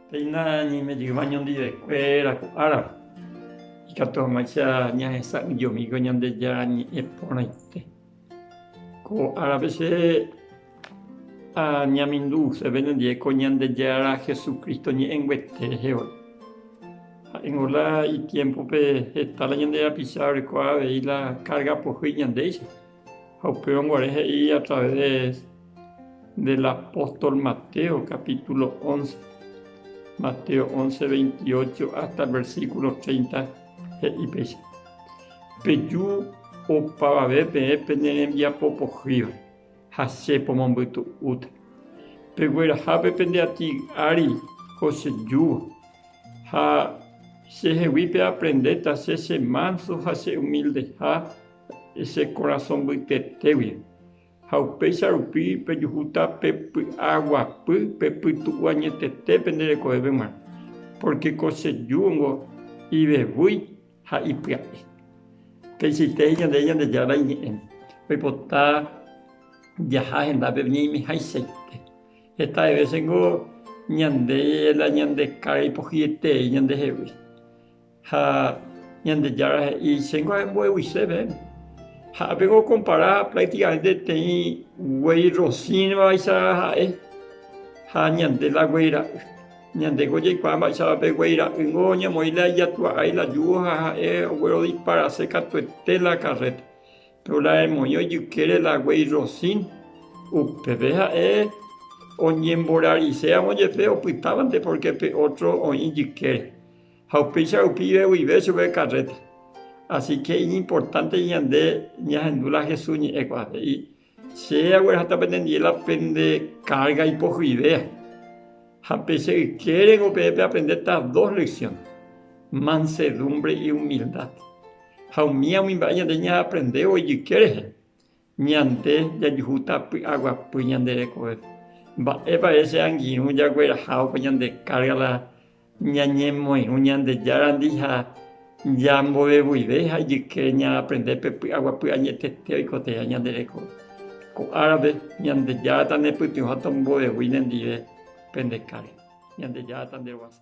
Péina ñaime jyva ñandivekuéra ko ára, ikatu hag̃uáicha ñahesa'ỹjomíko Ñandejára ñe'ẽ porãite. Ko árape che añaminduse pene ndive ko Ñandejára Jesucristo ñe'ẽnguete rehe voi. Ha'éngo la itiémpope heta la ñande rapicha orekóva avei la kárga pohýi ñandéicha. Ha upéva guare he'i a través del apóstol Mateo, capítulo once, Mateo once, veintiocho hasta el versículo treinta, he'i péicha, Peju opavave peẽ pene rembiapo pohýva, ha Che pomombytu'úta. Peguerahápe pende ati ári ko che júva, ha che hegui peaprendéta Che che manso ha che humildeha, che korasõ mbytetégui, ha upéicha rupi pejuhúta pe py'aguapy pe pytu'u añetete pende rekovéveg̃uarã, pórke ko che júgo ivevúi ha ipya'e. Peichaite he'i ñandéve Ñandejára iñe'ẽ, oipota jaha hendápe ñaimehaichaite. Heta vése ningo ñande la ñande kára ipohyetei ñandehegui. Ha Ñandejára he'i, Chéngo ahembo'eguise peẽme. Ha apego okompara práktikamente peteĩ guéi rosĩvaicha ha'e ha ñande la guéi ra'y. Ñandéko jaikuaa mba'éichapa pe guéi ra'ýngo oñemoĩ la ijatu'aái la júgo ha ha'e oguerodisparase katuete la karréta. Péro la emoĩ ojykére la guéi rosĩ, upépe ha'e oñemborariséramo jepe opytávante pórke pe ótro oĩ jykére. Ha upéicha rupive guive chupe karréta. Asíke iñimportánte ñande ñahendu la Jesús ñe'ẽ ko'ã, he'i, Che aguerahata penendie la pende kárga ipohyvéva. Ha pe che ykérengo peẽ peaprendéta dos lesión, mansedúmbre iumildad. Ha umíva umi mba'e ñande ñaaprendévo ijyke rehe, Ñande jajuhúta py'aguapy ñande rekovépe. Mba'épa che angirũ jaguerahávo ñande kárga la ñañemoirũ Ñandejárandi ha jambovevuive ha ijykére ñaaprende pe py'aguapy añetete oikotevẽha ñande rekove. Ko árape, Ñandejára tanepytyvõ ha tombovevúi nendive pende kárga. Ñandejára tanderuasa.